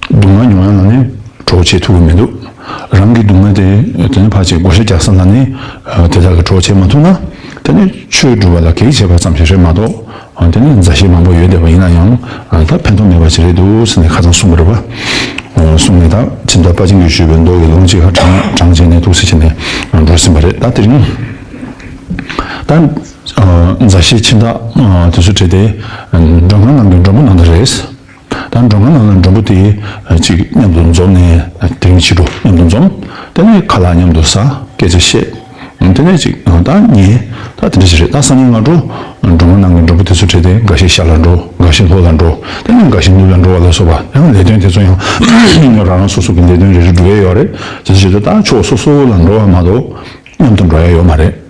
སྡུག་བསྔལ་མྱོང་ཡ་ལ་ནི་གྲོགས་བྱེད་ཐུག་གི་མི་འདུག་རང་གི་སྡུག་བསྔལ་དེ་དེ་ནས་ཕར་ཆེད་བགོ་བཤའ་རྒྱག་ས་ལ་ནི་དེ་དག་གི་གྲོགས་བྱེད་མ་ཐུབ་ན་དེ་ནི་ཆོས་སྒྲུབ་པ་ལ་གེགས་བྱེད་པ་ཙམ་ཞིག་རེད་མ་གཏོགས་དེ་ནི་མཛའ་བཤེས་མང་པོ་ཡོད་བསྡད་པ་ཡིན་ན་ཡང་ད་ཕན་ཐོག་མེད་པ་ཞིག་རེད་འདུག་ཟེར་ནས་ཁ་ཚང་གསུམ་པོ་རེད་པ་གསུམ་ནས་ད་ཁྱིམ་བདག་དཔའ་ཆེན་གྱིས་ཞུས་པའི་མདོག་གི་ལོངས་སྤྱད་ཧ་གྲང་གྲང་བྱས་ནས་ཐུགས་སེ་བྱས་ནས་འགྲོ་ཟིན་པ་རེད་ད་དེ་རིང་ད་མཛའ་བཤེས་ཁྱིམ་བདག་དེ་ཚོ་བྲེལ་ཏེ་མགྲོན་ཁང་ནང་གི་མགྲོན་པོ་ནང་དུ་རེས། ད་མགྲོན་ཁང་ནང་ལ་མགྲོན་པོ་དེ་གཅིག་མཉམ་དུ་འཛོམས་ནས་དེ་རིང་ཕྱི་དྲོ་མཉམ་དུ་འཛོམས། དེ་ནས་ཁ་ལག་མཉམ་དུ་ཟ་སྐད་ཆ་བཤད། དེ་ནས་ཅིག་ད་ངས་ད་དེ་འདྲ་ཞིག་རེད་ད་སང་ཉིན་ང་འགྲོ། མགྲོན་ཁང་ནང་གི་མགྲོན་པོ་དེ་ཚོ་བྲེལ་ཏེ་འགའ་ཞིག་ཤར་ལ་འགྲོ་འགའ་ཞིག་ལྷོ་ལ་འགྲོ་དེ་ནས་འགའ་ཞིག་ནུབ་ལ་འགྲོ་བ་ལ་སོགས་པ་ཡང་ལས་དོན་དེ་ཚོ་ཡང་རང་རང་སོ་སོ་གི་ལས་དོན་རེ་རེ་འགྲོ་ཡས་ཡོད་རེད་དེ་ཚོ་བྱེད་དུ་ད་ཕྱོགས་སོ་སོ་ལ་འགྲོ་བ་མ་གཏོགས་མཉམ་དུ་འགྲོ་ཡས་ཡོད་མ་རེད།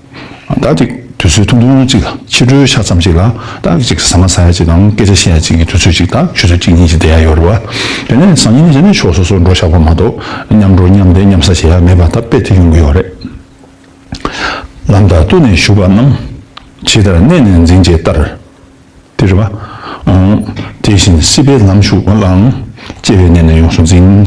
ཟླ་གཅིག་དུས་ཚོད་ཐུང་ཐུང་གཅིག་དང་ཕྱི་དྲོའི་ཆ་ཙམ་ཞིག་ལ་ཏག་གཅིག་གིས་ཟ་མ་ཟ་ཡ་གཅིག་དང་སྐད་ཆ་བཤད་ཡ་གཅིག་གི་དུས་ཚོད་ཅིག་དང་ཆུ་ཚོད་གཅིག་གཉིས་ཀྱི་བསྡད་ཡ་ཡོད་རེད་བ། དེ་ནས་བཟང་ཉིན་རྗེས་ནས་ཕྱོགས་སོ་སོར་འགྲོ་ཆགས་པ་མ་གཏོགས་མཉམ་འགྲོ་མཉམ་བསྡད་མཉམ་ཟ་བྱེད་ཡ་མེད་པ་ད་དཔེ་དེ་ཡོང་གི་ཡོད་རེད། ལམ་དང་བསྟུན་ནས་བཞུགས་པ་རྣམས་ཇི་ལྟར་གནས་ནས་འཛིན་བྱེད་ལྟར་དེ་རེད་བ། དེ་བཞིན་སྲིད་པའི་ལམ་ཞུགས་ལའང་སྐྱེ་བའི་གནས་ནས་ཡོངས་སུ་འཛིན།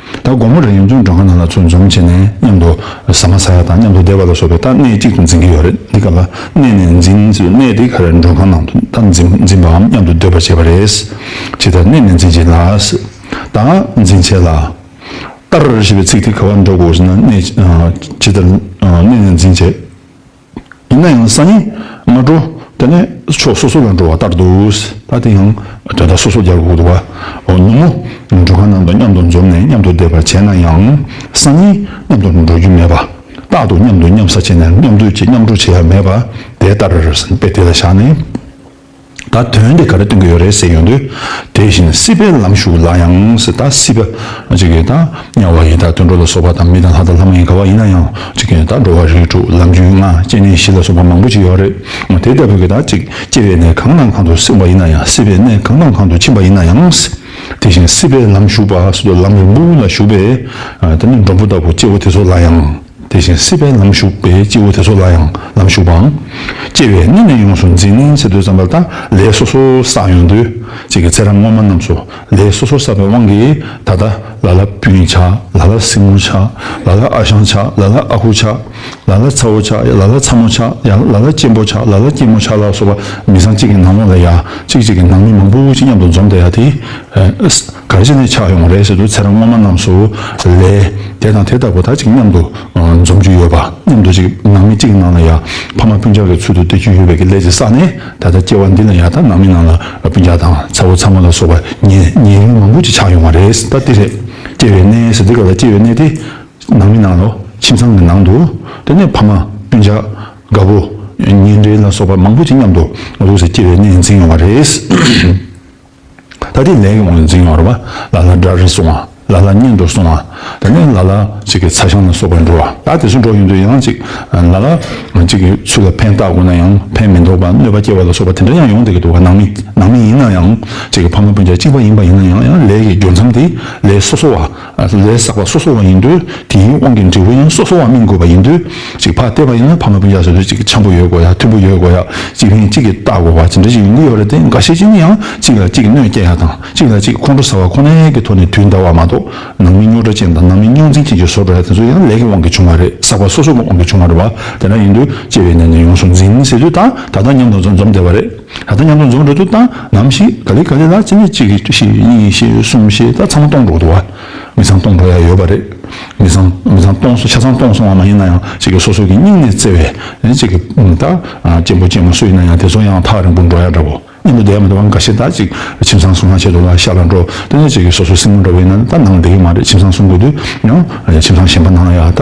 ད་དགོང་མོ་རེར་ཡང་ཆུང་འབྲོག་ཁང་ནང་ལ་ཚོ་འཛོམས་བྱས་ནས་མཉམ་དུ་ཟ་མ་ཟ་ཡག་དང་མཉམ་དུ་བསྡད་པ་ལ་སོགས་པའི་རྟགས་སྣེ་གཅིག་ཏུ་འཛིན་གྱི་ཡོད་རེད་འདི་ག་ལ་གནས་ནས་འཛིན་ཚུལ་གནས་འདི་ག་རེར་འབྲོག་ཁང་ནང་དུ་རྟགས་འཛིན་པའམ་མཉམ་དུ་སྡོད་པར་བྱེད་པ་རེད། ཇི་ལྟར་གནས་ནས་འཛིན་བྱེད་ལ། རྟགས་འཛིན་བྱེད་ལ། ཏར་ཞེས་པའི་ཚིག་དེ་ག་བར་འགྲོ་དགོས་ཟེར་ན་གནས། ཇི་ལྟར་གནས་ནས་འཛིན་བྱེད། ཡིན་ན་ཡང་སང་ཉིན་མ་འགྲོ་དེ་ནས་ཕྱོགས་སོ་སོ་ལ་འགྲོ་བ་ལྟར་འདུག་ད་དེ་ཡང་དོན་དག་སོ་སོ་རྒྱབ་འོག་ཏུ་བ་ནུབ་མོ་འགྲུལ་ཁང་ནང་དུ་མཉམ་དུ་འཛོམས་ནས་མཉམ་དུ་བསྡད་པ་བྱས་ན་ཡང་སང་ཉིན་མཉམ་དུ་འགྲོ་རྒྱུ་མེད་པ་རྟག་ཏུ་མཉམ་དུ་མཉམ་ཟ་བྱས་ནས་མཉམ་སྡོད་ཀྱི་མཉམ་འགྲོ་བྱེད་ཡ་མེད་པ་དེ་ལྟར་དཔེ་དེ་ལ་བཞག་ནས། ད་དོན་དེ་ག་རེ་སྟོན་གྱི་ཡོད་རེད་ཟེར་ཡོང་དུས། དེ་བཞིན་སྲིད་པའི་ལམ་ཞུགས་ལ་ཡང་ད་སྲིད་པ། གཅིག་གིས་ད་དམྱལ་བ་ཡིན་ད་དུད་འགྲོ་ལ་སོགས་པ་དང་མི་དང་ལྷ་དང་ལྷ་མ་ཡིན་ག་བ་ཡིན་ན་ཡང་གཅིག་གིས་ད་འགྲོ་བ་རིགས་དྲུག་ལམ་རྒྱུད་ལྔ་སྐྱེ་གནས་བཞི་ལ་སོགས་པ་མང་པོ་ཅི་ཡོད་རེད། དེ་ལྟ་བུ་གིས་ད་གཅིག་སྐྱེ་བའི་གནས་གང་དང་གང་དུ་སྲིང་བ་ཡིན་ན་ཡང་སྲིད་པའི་གནས་གང་དང་གང་དུ་ཕྱིན་པ་ཡིན་ན་ཡང། དེ་བཞིན་སྲིད་པའི་ལམ་ཞུགས་པ་སོ་སོ་ལམ་རིང་པོ་ལ་ཞུགས་པས། ད་ནི་འབྲོང་བུ་ལྟ་བུ་སྐྱེ་བོ་དེ་ཚོ་ལ་ཡང། དེ་བཞིན་སྲིད་པའི་ལམ་ཞུགས་པའི་སྤྱི་བོ་དེ་ཚོ་ལ་ཡང་ལམ་ཞུགས་པའམ། སྐྱེ་བའི་གནས་ནས་ཡོངས་སུ་འཛིན་ནས་ཚེ་དུས་བརྩམས་པ་དག་ལས་སོ་སོར་བསགས་ཡོང་དུས་གཅིག་གི་ཚེ་རབས་སྔོན་མ་རྣམས་སུ་ལས་སོ་སོར་བསགས་པའི་དབང་གིས་ད་ལྟ་ལ་ལ་སྤུན་ཆགས་ལ་ལ་སྲིང་མོ་ཆགས་ལ་ལ་ཨ་ཞང་ཆགས་ལ་ལ་ཨ་ཁུ་ཆགས་ལ་ལ་ཚ་བོ་ཆགས་ཡ་ལ་ལ་ཚ་མོ་ཆགས་ཡ་ལ་ལ་གཅེན་པོ་ཆགས་ལ་ལ་སྐྱེས་མོ་ཆགས་ལ་སོགས་པ་མི་བཟང་གཅིག་གི་ནང་ལོགས་ལ་ཡ་གཅིག་གཅིག་གི་ནང་མི་མང་པོ་ཅིག་མཉམ་དུ་འཛོམས་ཏེ་ཡ་དེའི་གར་བྱེད་ནས་ཆགས་ཡོང་བ་རེད་ཟེར་དུས་ཚེ་རང་སྔོན་མ་རྣམས་སུ་ལས་དེ་དང་དེ་ལྟ་བུ་དག་ཅིག་མཉམ་དུ་འཛོམས་རྒྱུ་ཡོད་པ་མཉམ་དུ་ཅིག་ནང་མི་གཅིག་གི་ནང་ལ་ཡང་ཕ་མ་སྤུན་ཆང་གི་ཚུལ་དུ་སྟེར་རྒྱུ་ཡོད་པའི་གི་ལས་ཅིག་བསགས་ནས་ད་ལྟ་སྐྱེ་བ་འདི་ལ་ཡང་དག་ནང་མི་རྣམས་ལ་སྤུན་ཆང་དང་ཚ་བོ་ཚ་མོ་ལ་སོགས་པ་ཉེ་ཉེ་ལུང་མང་པོ་ཅིག་ཆགས་ཡོང་བ་རེད་ད་འདི་རེད་སྐྱེ་བའི་གནས་ཟེར་འདི་ག་ལ་སྐྱེ་བའི་གནས་དེ་ནང་མི་རྣམས་ལོ་ཁྱིམ་ཚང་གི་ནང་དུ་དེ་ནས་ཕ་མ་སྤུན་ཆག་དགའ་བོ་ཉེ་འབྲེལ་ལ་སོགས་པ་མང་པོ་ཅིག་མཉམ་དུ་ལུས་ཟེར་སྐྱེ་བའི་གནས་འཛིན་ཡོང་བ་རེད། ད་ལྟའི་ལས་ཡོངས་ལ་འཛིན་ཡོང་ར་བ་ལ་ལ་འདྲ་རེ་སོང་བ་ལ་ལ་གཉེན་འགྲོར་སོང་བ་དེ་ནས་ལ་ལ་ཅིག་གི་ཚ་ཞང་ལ་སོགས་པའི་འགྲོ་བ་ད་དེ་ཚོ་འགྲོ་ཡོང་དུས་ཡང་ཅིག་ལ་ལ་ཅིག་གི་ཚུལ་ལ་ཕན་བཏགས་དགོས་ན་ཡང་ཕན་མི་འདོགས་པ་གནོད་པ་སྐྱེལ་བ་ལ་སོགས་པ་དེ་འདྲ་ཡང་ཡོང་སྡད་ཀྱི་འདུག་ནང་མི་ནང་མི་ཡིན་ན་ཡང་ཅིག་གི་ཕ་མ་སྤུན་ཆ་གཅིག་པ་ཡིན་པ་ཡིན་ན་ཡང་ཡང་ལས་ཀྱི་འབྱོར་མཚམས་དེ་ལས་སོ་སོ་བ། ལས་བསགས་པ་སོ་སོ་བ་ཡིན་དུས་དེའི་དབང་གིས་འབྲས་བུ་ཡང་སོ་སོ་བ་སྨིན་དགོས་པ་ཡིན་དུས་གཅིག་ཕ་ལྟེ་བ་ཡིན་ན་ཕ་མ་སྤུན་ཆགས་ཟེར་དུས་གཅིག་ཆེན་པོ་ཡོད་དགོས་ཡ་མཐོན་པོ་ཡོད་དགོས་ཡ་གཅིག་ཕན་གཅིག་གིས་བལྟ་དགོས་པ་ཇི་འདྲ་ཞིག་ཡོང་གི་ཡོད་རེད་དེ་འགའ་ཤས་ཀྱིས་ནི་ཡང་གཅིག་ལ་གཅིག་གིས་གནོད་བསྐྱལ་ཡ་དང་གཅིག་ལ་གཅིག་ཁོང་ཁྲོ་ཟ་བ་ཁོ་ནའི་གི་ཐོག་ནས་དུས་འདའ་བ་མ་གཏོགས་ནང་མི་རྙོག་དྲ་ཅན་དང་ནང་མི་རྙོག་འཛིང་ཅན་གྱི་ཟོ་འདྲ་ཡ་དེ་ཚོ་ཡང་ལས་ཀྱི་དབང་གིས་བྱུང་བ་རེད་བསགས་པ་སོ་སོ་བ་དབང་གིས་བྱུང་བ་རེད་བ་དེ་འདྲ་ཡིན་དུས་སྐྱེ་བའི་གནས་ནས་ཡོངས་སུ་འཛིང་ཟེར་དུས་ད་ད་ད་མཉམ་དང་འཛོམས་འཛོམས་བསྡད་པ་རེད། ད་ལྟ་མཉམ་འཛོམས་རྫོང་གྲོང་ཚོ་དང་ནམ་ཞིག་ག་ལེ་ག་ལེ་ལ་བརྩེ་མེད་གཅིག་གིས་གཅིག་ཤེས་གཉིས་ཤེས་གསུམ་ཤེས་ད་ཚང་མ་སྟོང་གྲོགས་འགྲོ་བ། མི་ཚང་སྟོང་གྲོགས་ཡང་ཡོད་པ་རེད། མི་ཚང་མི་ཚང་སྟོང་སོང་ཆ་ཚང་སྟོང་སོང་བ་མ་ཡིན་ན་ཡང་གཅིག་གིས་སོ་སོ་གི་སྙིང་ནས་བརྩེ་བས་གཅིག་གིས་ད་གཅེན་པོ་གཅེན་མོ་སུ་ཡིན་ན་ཡང་དེ་ཚོ་ཡང་ཐག་རིང་པོར་འགྲོ་ཡག་འདྲ་བོ། གཉེན་པོ་དེ་ཡང་མི་འདུག་པ་འགའ་ཤས་ད་གཅིག་ཁྱིམ་ཚང་སྲུང་ན་ཆེད་དུ་ལ་ཤ་ལ་འགྲོ་དེ་ནས་གཅིག་གིས་སོ་སོ་སྲིང་མོ་འདྲ་བོ་ཡིན་ན་ད་ནང་བསྡད་ཀྱི་མ་རེད་ཁྱིམ་ཚང་སྲུང་དགོས་དུས་ཡང་ཁྱིམ་ཚང་གཞན་པ་ནང་ཡང་ད།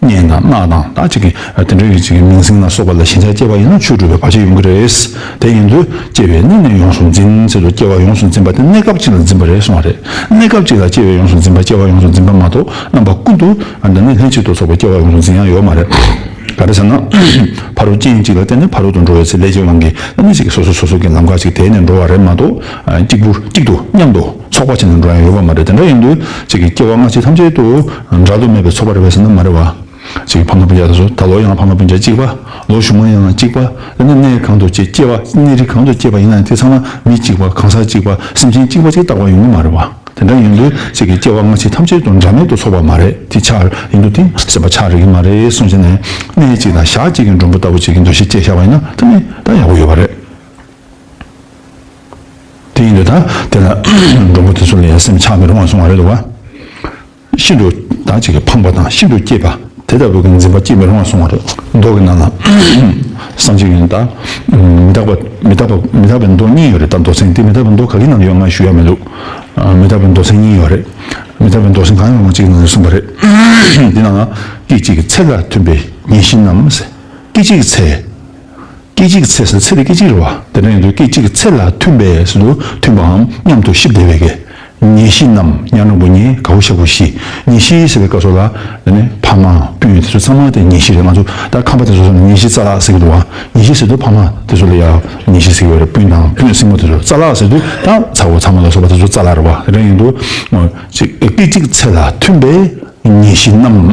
སྙན་ངག་སྔགས་དང་ད་ཅིག་གིས་དེ་འདྲ་ཡོད་ཅིག་མིང་སྲིང་ལ་སོགས་པ་ལ་ཞེན་ཆགས་སྐྱེས་པ་ཡིན་ན་ཆོས་སྒྲུབ་པའི་བར་ཆད་ཡོང་གི་རེད། དེ་ཡིན་དུས་སྐྱེས་པའི་གནས་ནས་ཡོངས་སུ་འཛིན་ཚེ་ལོ་སྐྱེ་བ་ཡོངས་སུ་འཛིན་པ་དེ་གནས་སྐབས་གཅིག་ལ་འཛིན་པ་རེད་གསུང་བ་རེད། གནས་སྐབས་གཅིག་ལ་སྐྱེ་བའི་ཡོངས་སུ་འཛིན་པ་སྐྱེ་བ་ཡོངས་སུ་འཛིན་པ་མ་གཏོགས་རྣམ་པ་ཀུན་ཏུ་འདི་ནས་ལྷན་ཅིག་ཏུ་ཚོགས་པའི་སྐྱེ་བ་ཡོངས་སུ་འཛིན་ཡ་ཡོད་མ་རེད། ག་རེ་ཟེར་ན། ཕ་རོལ་རྐྱེན་གཅིག་ལ་བརྟེན་ནས་ཕ་རོལ་ཏུ་འགྲོ་བའི་ཚེ་ལས་ཀྱི་དབང་གིས་སྣ་གནས་གཅིག་གིས་སོ་སོ་སོ་སོ་ཀྱི་ལམ་ཁ་ཅིག་དེད་ནས་འགྲོ་བ་རེད་མ་གཏོགས་གཅིག་པུ་གཅིག་ཏུ་མཉམ་དུ། ཚོགས་པ་ཅན་དུ་འགྲོ་ཡང་ཡོད་པ་མ་རེད་དེ་འདྲ་ཡིན་དུས་ཅིག་གིས་སྐྱེ་བ་སྔ་ཕྱི་ཐམས་ཅད་དུ་འགྲ་དུ་མེད་པའི་ཚོགས་པ་རེ་བས་ཟིན་ན་མ་རེད་བ། ཅིག་གིས་ཕ་མ་སྤུན་མཇལ་དུ་སོང་ད་ལོ་ཡང་ཕ་མ་སྤུན་མཇལ་གཅིག་པ་ལོ་གཞུག་མ་ཡང་གཅིག་པ་དཔེར་ན་གནས་གང་དུ་སྐྱེས་སྐྱེ་བ་གནས་རི་གང་དུ་སྐྱེས་པ་ཡིན་ན་དེ་ཚང་མ་མི་གཅིག་པ་གང་ཟག་གཅིག་པ་སེམས་ཅན་གཅིག་པ་ཅིག་རྟག་པར་ཡོང་གི་མ་རེད་བ། དེ་འདྲ་ཡིན་དུས་ཅིག་གིས་སྐྱེ་བ་སྔ་ཕྱི་ཐམས་ཅད་དུ་འགྲ་མེད་དུ་ཚོགས་པ་མ་རེད་དེ་ཆགས་ཡིན་དུ་དེ་སེམས་པ་ཆགས་རེག་གི་མ་རེད་སོང་བྱས་ནས་གནས་གཅིག་དང་ཞག་གཅིག་གི་མགྲོན་པོ་ལྟ་བུ་ཅིག་གི་འདུ་ཤེས་སྐྱེས་ཤག་པ་ཡིན་ན་ད་ནི་ད་ཡག་པོ་ཡོད་པ་རེད། དེ་ཡིན་དུས་ད་དེ་ལ་འགྲོ་མགོ་དེ་ཚོ་ལ་ཡང་སེམས་ཆགས་མི་རུང་བ་སོང་བ་རེད་བ། ཤིན་ཏུ་དག་ཅིག་གིས་ཕངས་པ་དང་ཤིན་ཏུ་སྐྱིད་པ་དེ་ལྟ་བུའི་འཛིན་པ་སྐྱེས་མི་རུང་བ་སོང་བ་རེད། མདོག་གི་ནང་ལ་བསམ་གཞིག་ཡོད་ན་མི་དག་མི་དག་མི་དག་པའི་མདོག་གཉིས་ཡོད་རེད་ད་མདོག་སེང་དེ་མི་དག་པའི་མདོག་ག་གི་ནང་ལ་ཡོད་ང་ཞུ་ཡག་མི་འདུག་མི་དག་པའི་མདོག་སེང་གཉིས་ཡོད་རེད་མི་དག་པའི་མདོག་སེང་གང་ཡང་རུང་གཅིག་གི་ནང་ལ་གསུངས་པ་རེད་དེ་ནང་ལ་སྐད་ཅིག་གི་ཚད་ལ་མཐུན་པའི་ཉིན་བཞིན་ནམ་སྐད་ཅིག་གི་ཚད་སྐད་ཅིག་གི་ཚེ་ཟེར་ཚེ་དེ་སྐད་ཅིག་རེད་བ། དེ་འདྲ་ཡིན་དུས་སྐད་ཅིག་གི་ཚེ་ལ་མཐུན་པས་ཟེར་དུས་མཐུན་པའམ་མཉམ་དུ་གཤིབ་བདེ་བས་ཀྱི། ཉེ་བཞི་རྣམས་ཉག་རིང་པོ་ཉེ་ག་བོ་ཤ་བོ་བཞི། ཉེ་བཞི་ཟེར་བའི་སྐབས་སོགས་ལ། འདི་ནི་ཕ་མ་སྤུན་དེ་ཚོ་ཚང་མ་དེ་ཉེ་བཞི་རེད་ང་ཚོ་ད་ཁམས་པ་དེ་ཚོ་སོགས་ནི་ཉེ་བཞི་རྩ་ལག་ཟེར་གྱི་འདུག་བ། ཉེ་བཞི་ཟེར་དུས་ཕ་མ་དེ་ཚོ་ལ་ཡང་ཉེ་བཞི་ཟེར་གྱི་བ་རེད་སྤུན་དང་སྤུན་སྲིང་མོ་དེ་ཚོ་རྩ་ལག་ཟེར་དུས་ད་ཚ་བོ་ཚ་མོ་ལ་སོགས་པ་དེ་ཚོ་རྩ་ལག་རེད་བ་དེ་འདྲ་ཡིན་དུས། སྐད་ཅིག་གི་ཚེ་ལ་མཐུན་པས་ཉེ་བཞི་རྣམས།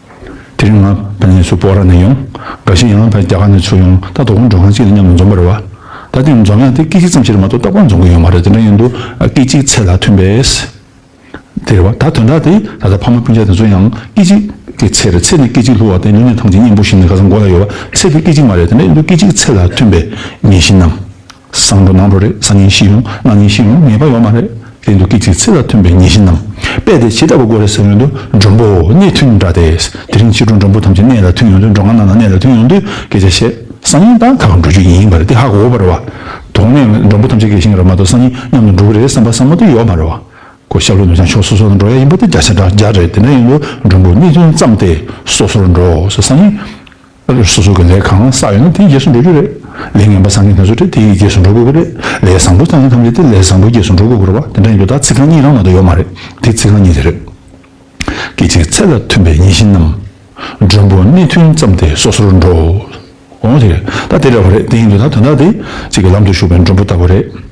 དེ་རིང་ང་ཕ་ནས་སུ་པོ་ར་ནས་ཡོང། འགའ་ཞིག་ཡང་ད་རྒྱ་གར་ནས་ཚུར་ཡོང་ད་དོ་དགོང་འགྲོ་ཁང་གཅིག་ལ་མཉམ་དུ་འཛོམས་པར་རེ་བ། ད་དེ་འཛོམས་ཡང་དེ་སྐད་ཅིག་ཙམ་ཕྱིར་མ་གཏོགས་ཏག་ཏག་འཛོམས་གི་ཡོད་མ་རེད་དེ་འདྲ་ཡིན་དུ་སྐད་ཅིག་ཚད་ལ་ཐོན་པས། དེ་རེ་བ་ད་དོན་དག་དེ་ད་ལྟ་ཕ་མ་སྤུན་ཆ་དེ་ཚོ་ཡང་སྐད་ཅིག་གི་ཚད་རེད་ཚད་ནི་སྐད་ཅིག་ལྷུ་བ་དེ་ལུས་ནས་ཐང་ཆེན་སྙིང་པོ་ཞིག་ནས་ག་ཚ་མགོ་ལ་ཡོད་བ་ཚད་དེ་སྐད་ཅིག་མ་རེད་དེ་འདྲ་ཡིན་དུ་སྐད་ཅིག་ཚད་ལ་ཐོན་པས་ངེས་ཤེས་གནང། བཟང་པོ་ནང་དུ་རེག་བཟང་ངན་བཞི་ཡོང་ན་ངན་བཞི་ཡོང་ངེས་པ་ཡོད་མ་རེད། དེ་འདུག་སྐད་ཅིག་ཚིག་ལ་མཐུན་པའི་ངན་བཞི་རྣམས་པས་དེ་ཇི་ལྟ་བུ་དགོས་རེད་ཟེར་ཡོང་དུས་མགྲོན་པོ་གནས་མཐུན་འདྲ་སྟེ། དེ་རིང་ཕྱི་དྲོ་མགྲོན་པོ་ཐམས་ཅད་གནས་ལ་མཐུན་ཡོང་དུས་འགྲོ་ང་ནང་ལ་གནས་ལ་མཐུན་ཡོང་དུས་སྐད་ཆ་བཤད། སང་ཉིན་ད་ག་ག་འགྲོ་རྒྱུ་ཡིན་པ་རེད་དེ་ཧ་གོ་བར་རེ་བ། དོགས་གནས་མགྲོན་པོ་ཐམས་ཅད་དགེ་ཞིང་རབ་མ་གཏོགས་སང་ཉིན་མཉམ་དུ་འགྲོ་གི་རེད་བསམ་པ་སང་མོ་དེ་ཡོད་མ་རེ་བ། ཁོ་ཤར་ལྷོ་ནུབ་བྱང་ཕྱོགས་སོ་སོ་ལ་འགྲོ་ཡ་ཡིན་པ་དེ་བརྒྱ་ཆ་འདྲ་རྒྱག་རེད་དེ་འདྲ་ཡིན་དུས་མགྲོན་པོ་གནས་མཐུན་བརྩམས་ཏེ་སོ་སོར་འགྲོ་ཟེར་སང་ཉིན་སོ་སོ་གི་ལས་གང་བསགས་ཡོད་ན་དེའི་རྗེས་སུ་འགྲོ་རྒྱུ་རེད། ལས་ངན་པ་བསགས་མཁན་དེ་ཚོ་དེའི་རྗེས་སུ་འགྲོ་དགོས་ཀྱི་རེད། ལས་བཟང་པོ་བསགས་མཁན་ཐམས་ཅད་དེ་ལས་བཟང་པོའི་རྗེས་སུ་འགྲོ་དགོས་ཀྱི་རེད་བ། དེ་འདྲ་ཡིན་དུས་ད་ཚིག་རྐང་གཉིས་རང་ནང་དུ་ཡོད་མ་རེད། དེ་ཚིག་རྐང་གཉིས་དེ་རེད། སྐད་ཅིག་ཚད་ལ་མཐུན་པའི་ཉིན་བཞིན་ནམ། མགྲོན་པོ་གནས་མཐུན་ཙམ་དེ་སོ་སོར་འགྲོ། འོ་དེ་རེད། ད་དེ་འདྲ་བ་རེད་དེ་ཡིན་དུས་ད་དོན་དག་དེ་གཅིག་གི་ལམ་དུ་ཞུགས་པའི་མགྲོན་པོ་ལྟ་བུ་རེད།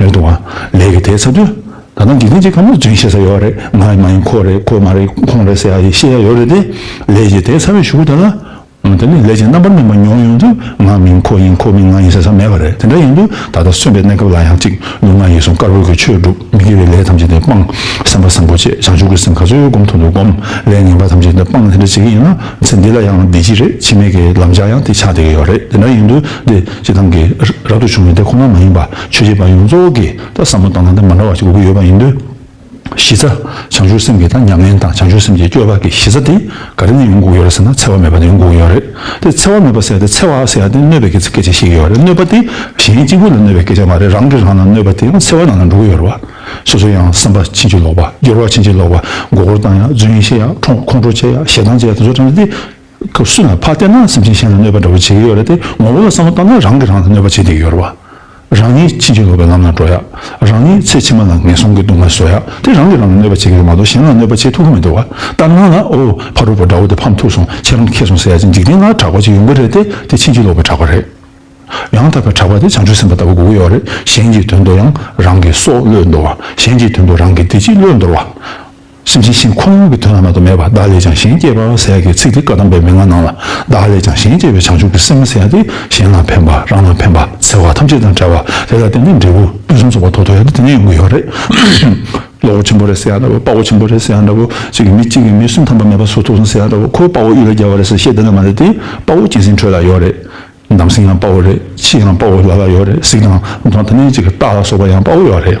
ལན་དུ། ལས་ཀྱི་དེ་ཚ་དུས། ད་ནང་འཇིག་རྟེན་གྱི་ཁམས་ལ་རྗེན་ཤེས་ས་ཡོད་རེད་ང་ཡི་མ་ཡིན་ཁོ་རེད་ཁོ་མ་རེད་ཁོང་རེད་ཟེར་ཡ་ཡི་ཤེས་ཡ་ཡོད་རེད་དེ། ལས་ཀྱི་དེ་ཚ་བའི་ཞུགས་ད་ལ། ད་ནི་ལས་ཀྱི་རྣམ་པར་སྨིན་པ་མྱོང་ཡོང་དུས་ང་མིན་ཁོ་ཡིན་ཁོ་མིན་ང་ཡིན་ཟེར་ས་མེད་པ་རེད་དེ་འདྲ་ཡིན་དུས་ད་ལྟ་གསོན་པའི་གནས་སྐབས་ལ་ཡང་གཅིག་ལུས་ངག་ཡིད་གསུམ་དཀར་པོའི་གྱི་ཆོས་བསྒྲུབ་མི་དགེ་བའི་ལས་ཐམས་ཅད་འདི་སྤང། སེམས་དཔའ་སེམས་འཁོར་བཅས་བྱང་ཆུབ་ཀྱི་སེམས་ག་ཚོད་ཡོད་བསྒོམ་ཐུབ་འདུག་བསྒོམ། ལས་ངན་པ་ཐམས་ཅད་འདི་སྤང་དེ་འདྲ་བྱེད་ཀྱི་ཡིན་ན་ཚེ་འདི་ལ་ཡང་བདེ་སྐྱིད་རེད་འཆི་མེད་ཀྱི་ལམ་ལྕགས་ཡང་དེ་ཆགས་བསྡད་ཀྱི་ཡོད་རེད་དེ་འདྲ་ཡིན་དུས་འདི་ཅི་ཐང་གི་རབ་ཏུ་བྱུང་བའི་དེ་ཁོ་ན་མ་ཡིན་པ། ཆོས་བྱེད་པ་ཡོངས་རྫོགས་ཀྱིས་ད་བསམ་བློ་བཏང་ན་ད་མ་འདྲ་བ་ཞིག་དགོས་ཀྱི་ཡོད་པ་ཡིན་དུས། གཞི་རྩ། བྱང་ཆུབ་སེམས་ཀྱི་ད་མྱ་ངན་དང་བྱང་ཆུབ་སེམས་ཀྱི་སྐྱོ་བ་གི་གཞི་རྩ་དེ་ག་རེ་ནས་ཡོང་དགོས་ཀྱི་ཡོད་རེད་ཟེར་ན་འཚེ་བ་མེད་པ་ནས་ཡོང་དགོས་ཀྱི་ཡོད་རེད་དེ། འཚེ་བ་མེད་པ་ཟེར་ཡ་དེ་འཚེ་བ་ཟེར་ཡ་དེ་གནོད་པའི་སྐད་ཆ་ཞིག་ཡོད་རེད་གནོད་པ་དེ་གཞན་གཅིག་པུ་ལ་གནོད་པའི་སྐད་ཆ་མ་རེད་རང་གིས་རང་ལ་གནོད་པ་དེའང་འཚེ་བའི་ནང་ལ་འགྲོ་གི་ཡོད་རེད་བ། སོ་སོ་ཡང་བསམ་པ་ཕྱིན་ཅི་ལོག་པ་སྐྱོ་བ་ཕྱིན་ཅི་ལོག་པ་མགོ་སྐོར་བཏང་ཡ་རྫུན་བཤད་ཡ་ཁྲོང་ཁྲོ་བྱས་ཡ་ཞེ་སྡང་བྱས་ཡ་དེ་ཚོ་ཀྲང་རེད་དེ། སྐབས་སུ་ལ་ཕར་བལྟས་ན་སེམས་ཅན་གཞན་ལ་གནོད་པ་འདྲ་བོ་བྱེད་ཀྱི་ཡོད་རེད་དེ་ངོ་བོ་ལ་བསམ་བློ་བཏང་ན་རང་གིས་རང་ལ་གནོད་པ་བྱེད་བསྡད་ཀྱི་ཡོད་རེད་བ། རང་ཉིད་ཕྱིན་ཅི་ལོག་པའི་ལམ་ལ་འགྲོ་ཡག་རང་ཉིད་ཚེ་ཕྱི་མ་ལ་ངན་སོང་གི་སྡུག་བསྔལ་བཟོ་ཡག་དེ་རང་གིས་རང་ལ་གནོད་པ་བྱེད་ཀྱི་རེད་མ་གཏོགས་གཞན་ལ་གནོད་པ་བྱེད་ཐུབ་ཀྱི་མི་འདུག་བ། ལྟར་སྣང་ལ་ཨོ་ཕ་རོལ་པོ་དགྲ་བོ་དེ་ཕམ་ཐུག་སོང་ཁྱེད་རང་ཁེ་སོང་ཟེར་ཡ་ཅིག་འཇིག་རྟེན་ན་གྲགས་པ་ཅིག་ཡོང་གི་རེད་དེ་དེ་ཕྱིན་ཅི་ལོག་པའི་གྲགས་པ་རེད། ཡང་དག་པའི་གྲགས་པ་དེ་བྱང་ཆུབ་སེམས་དཔའ་ལྟ་བུ་དགུ་ཡོད་རེད་གཞན་གྱི་དོན་དུ་ཡང་རང་གི་སྲོག་བློས་འདོར་བ་གཞན་གྱི་དོན་དུ་རང་གི་བདེ་སྐྱིད་བློས་འདོར་བ། གཤིན་རྗེའི་གཤེན་ཁོ་བོ་གི་དོན་ལ་མ་དོ་མེད་པར་བདག་ལས་ཀྱང་གཞན་སྐྱེས་པ་ཟད་ཀྱི་ཚིག་འདི་བཀའ་གདམས་པའི་མན་ངག་ནང་ལ་བདག་ལས་ཀྱང་གཞན་སྐྱེས་པའི་བྱང་ཆུབ་ཀྱི་སེམས་མ་ཟད་དེ་གཞན་ལ་ཕན་པ་རང་ལ་ཕན་པ་འཚེ་བ་ཐམས་ཅད་དང་བྲལ་བ་དེ་ལ་བརྟེན་ནས་འབྲས་བུ་ཕུན་སུམ་ཚོགས་པ་ཐོབ་ཐུབ་ཡ་དེ་ནི་ཡོང་གི་ཡོད་རེད། བློ་བོ་ཆེན་པོ་རེད་ཟེར་ཡ་འདྲ་བོ་དཔའ་བོ་ཆེན་པོ་རེད་ཟེར་ཡ་འདྲ་བོ་གཅིག་གིས་མི་གཅིག་གིས་མི་སུ་འཐམ་པ་མེད་པ་སུ་ཐུགས་སོང་ཟེར་ཡ་འདྲ་བོ་ཁོས་དཔའ་བོ་གཡུ་རལ་རྒྱལ་བ་རེད་ཟེར་བཤད་དེ་འདྲ་མ་རེད་དེ་དཔའ་བོ་སྐྱེས་ཟིན་ཁྲོད་ལ་ཡོད་རེད། འདམ་སེང་ཡང་དཔའ་བོ་རེད་ཕྱི་ཡང་དཔའ་བོ་ལ་ལ་ཡོད་རེད་གཟིགས་དང་མདོང་དང་གནས་གཅིག་གི་སྟག་ལ་སོགས་པ་ཡང་དཔའ་བོ་ཡོད་རེད།